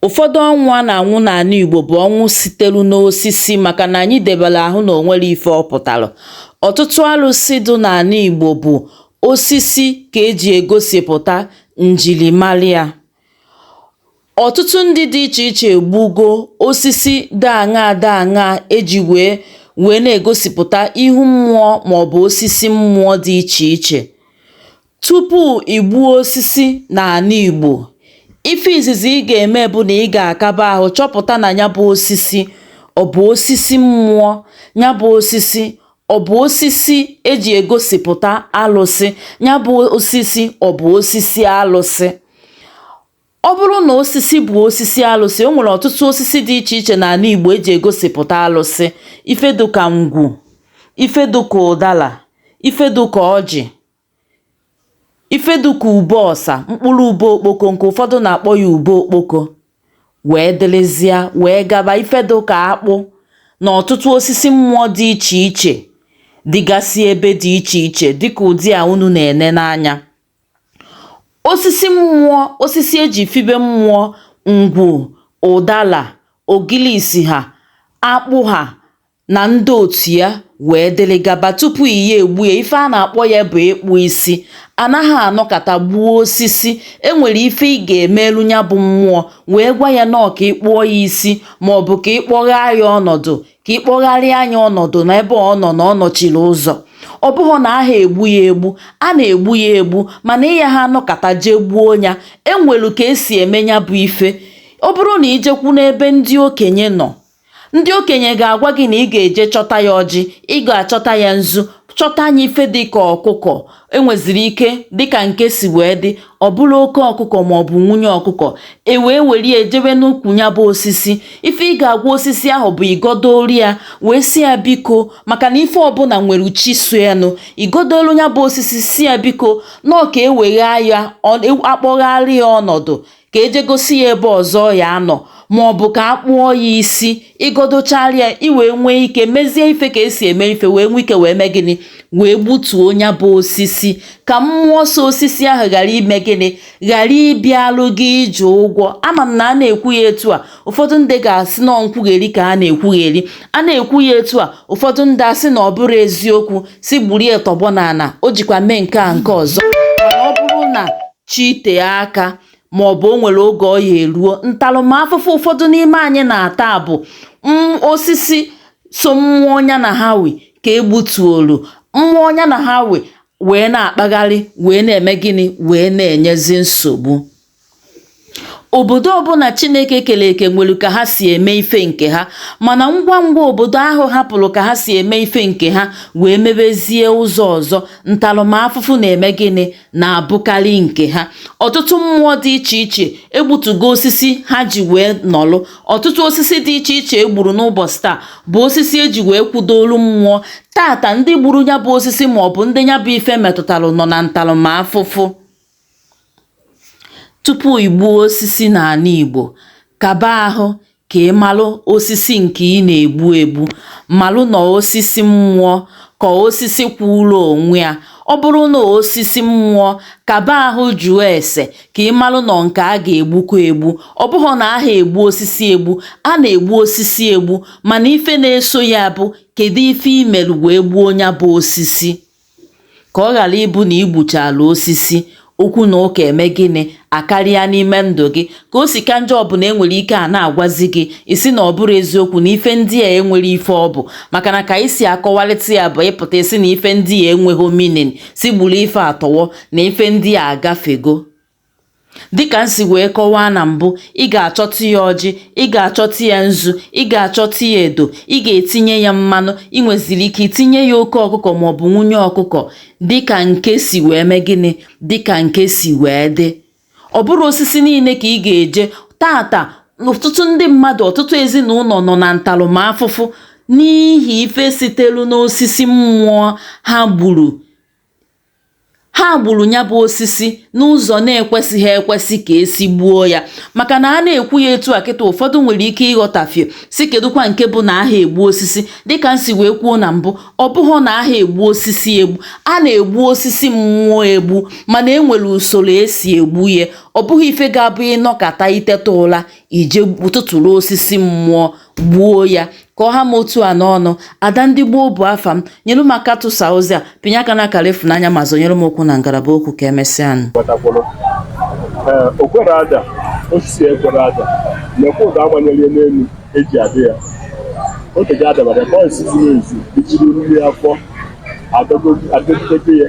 Ụfọdụ ọnwụ a na-anwụ n'anị Igbo bụ ọnwụ sitelu n'osisi maka na anyị debere ahụ na o nwere ife ọ pụtara. Ọtụtụ arụsị dị n'anị Igbo bụ osisi ka e ji egosipụta njirimara ya. Ọtụtụ ndị dị iche iche egbugo osisi dị aṅaa dị aṅaa e ji wee na-egosipụta ihu mmụọ maọbụ osisi mmụọ dị iche iche. Tupu i gbuo osisi n'anị Igbo, ife izizi ị ga-eme bụ na ị ga-akaba ahụ chọpụta na ya bụ osisi ọ bụ osisi mmụọ, ya bụ osisi ọ bụ osisi eji egosipụta alụsị, ya bụ osisi ọ bụ osisi alụsị. Ọ bụrụ na osisi bụ osisi alụsị, o nwere ọtụtụ osisi dị iche iche n'anị Igbo eji egosipụta alụsị, ife dịka ngwu, ife dịka ụdala, ife dịka ọjị ife dịka ube ọsa mkpụrụ ube okpoko nke ụfọdụ na-akpọ ya ube okpoko wee dịrịzịa wee gaba ife dịka akpụ na ọtụtụ osisi mmụọ dị iche iche dịgasị ebe dị iche iche dịka ụdị a unu na-ene n'anya osisi mmụọ osisi eji fibe mmụọ ngwu ụdala ogilisi ha akpụ ha na ndị otu ya wee dịrị gaba tupu ị ya-egbu ya ife a na-akpọ ya bụ ịkpụ isi anaha anọkata gbuo osisi enwere ife ị ga-emeelu nya bụ mmụọ wee gwa ya na ọ ka ị kpụọ ya isi ma ọ bụ ka ị kpọgharịa ya ọnọdụ ka ị kpọgharịa nya ọnọdụ na ebe ọ nọ na ọ nọchiri ụzọ ọ bụhọ na aha egbu ya egbu a na-egbu ya egbu mana ị yaha anọkata jee gbuo ya enwelu ka esi eme ya bụ ife ọ bụrụ na i jekwu n'ebe ndị okenye nọ Ndị okenye ga-agwa gị na ị ga-eje chọta ya ọjị, ị ga-achọta ya nzu, chọta nya ife dị ka ọkụkọ enweziri ike dịka nke si wee dị ọ bụrụ oke ọkụkọ ma ọ bụ nwunye ọkụkọ e wee were ya jewe n'ukwu ya bụ osisi ife ị ga-agwa osisi ahụ bụ ị gọdooro ya wee sị ya biko maka na ife ọbụla nwere chi so ya nụ ị gọdolu ya bụ osisi sị ya biko na ọ ka e wee kpọgharịa ya ọnọdụ ka e je gosi ya ebe ọzọ ọ ya-anọ ma ọ bụ ka a kpụọ ya isi ị gọdochara ya i wee nwee ike mezie ife ka esi eme ife wee nwee ike wee mee gịnị wee gbutuo ya bụ osisi ka mmụọ so osisi ahụ ghara ime gịnị ghara ịbịalụ gị iji ụgwọ ama m na a na-ekwu ya etu a ụfọdụ ndị ga-asị na nkwugheri ka a na-ekwugheri a na-ekwu ya etu a ụfọdụ ndị asị na ọ bụrụ eziokwu sị gburie tọgbọ n'ala o jikwa mee nke a nke ọzọ chi tee aka ma ọ bụ o nwere oge ọ ya eruo ntarụmafụfụ ụfọdụ n'ime anyị na-ata bụ mm, osisi so mmụọ nya na ha wi ka e gbutuolu mmụọ nya na ha wi wee na-akpagharị wee na-eme gịnị wee na-enyezi nsogbu obodo ọbụla chineke kere eke nwere ka ha si eme ife nke ha mana ngwa ngwa obodo ahụ hapụrụ ka ha si eme ife nke ha wee mebezie ụzọ ọzọ ntarụmafụfụ na-eme gịnị na-abụkarị nke ha ọtụtụ mmụọ dị iche iche egbutugo osisi ha ji wee nọlụ ọtụtụ osisi dị iche iche e gburu n'ụbọsị taa bụ osisi e ji wee kwudo olu mmụọ tata ndị gburu ya bụ osisi ma ọ bụ ndị ya bụ ife metụtara nọ na ntaramafụfụ tupu i gbuo osisi n'ana Igbo kaba ahụ ka ị malụ osisi nke ị na-egbu egbu malụ na ọ osisi mmụọ ka osisi kwụrụ onwe ya ọ bụrụ na ọ osisi mmụọ kaba ahụ jụọ ese ka ị malụ na ọ nke a ga-egbukwa egbu ọ bụhọ na aha egbu osisi egbu a na-egbu osisi egbu mana ife na-eso ya bụ kedu ife i melu wee gbuo nya bụ osisi Ka ọ ghara ịbụ na i gbuchaala osisi, okwu na ụka eme gịnị akarịa n'ime ndụ gị. Ka o si ka njọ ọ bụ na e nwere ike a na-agwazi gị ị sị na ọ bụrọ eziokwu na ife ndị a enwerọ ife ọ bụ maka na ka anyị si akọwarịta ya bụ ị pụta ị sị na ife ndị a enweghị meaning sị gburu ife a tọwọ na ife ndị a agafego. Dịka m si wee kọwaa na mbụ, ị ga-achọtụ ya ọjị, ị ga-achọtụ ya nzu, ị ga-achọtụ ya edo, ị ga-etinye ya mmanụ, ị nweziri ike itinye ya oke ọkụkọ maọbụ nwunye ọkụkọ dịka nke si wee mee gịnị? Dịka nke si wee dị. Ọ bụrọ osisi niile ka ị ga-eje tata ọtụtụ ndị mmadụ ọtụtụ ezi na ụnọ nọ na ntarụmafụfụ n'ihi ife sitelu n'osisi mmụọ ha gburu ha gburu ya bụ osisi n'ụzọ na-ekwesịghị ekwesị ka e si gbuo ya maka na a na-ekwu ya etu a kịta ụfọdụ nwere ike ịghọtafie sị kedụkwa nke bụ na aha egbu osisi dịka m si wee kwuo na mbụ ọ bụhọ na aha egbu osisi egbu a na-egbu osisi mmụọ egbu mana e nwere usoro e si egbu ya ọ bụghị ife ga-abụ ị nọkata i teta ụla i je tụtụrụ osisi mmụọ gbuo ya ka ọ ha m otu a n'ọnụ ada ndị gboo bụ afa m nyere m aka tụsa ozi a pịnye aka na akara ịfụnanya ma zọnyere m ụkwụ na ngalaba okwu ka e mesịa nụ okwere ada osisi ekwere ada na-ekwe ụda agbanyere n'elu eji adị ya oge ga adabara bọịsị zuru ezu ijiri mmiri afọ adọgide ya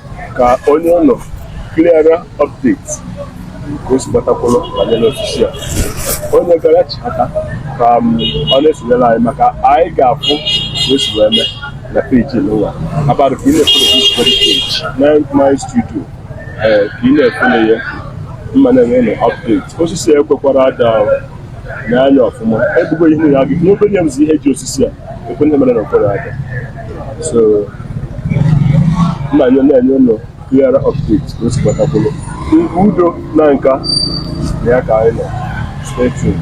ka o nye unu clear update ka o si gbata kwụrụ banyere osisi a onye gara chihata ka m, ọ na-esonyere anyị maka anyị ga-afụ ka o si wee mee na peji nwa abalị ka ị na-efere this very page na my studio ee ka ị na-efere ya mma na-enye unu update osisi a ekwekwara ada ahụ n'anya ọfụma egbugo ihe ya gị ihe obere ya bụzi ihe ji osisi a ekwe ndị mere na mkpụrụ aka so m ya na-enye unu clear update ka o si gbata kwụrụ udo na nka na ya ka anyị nọ stay tuned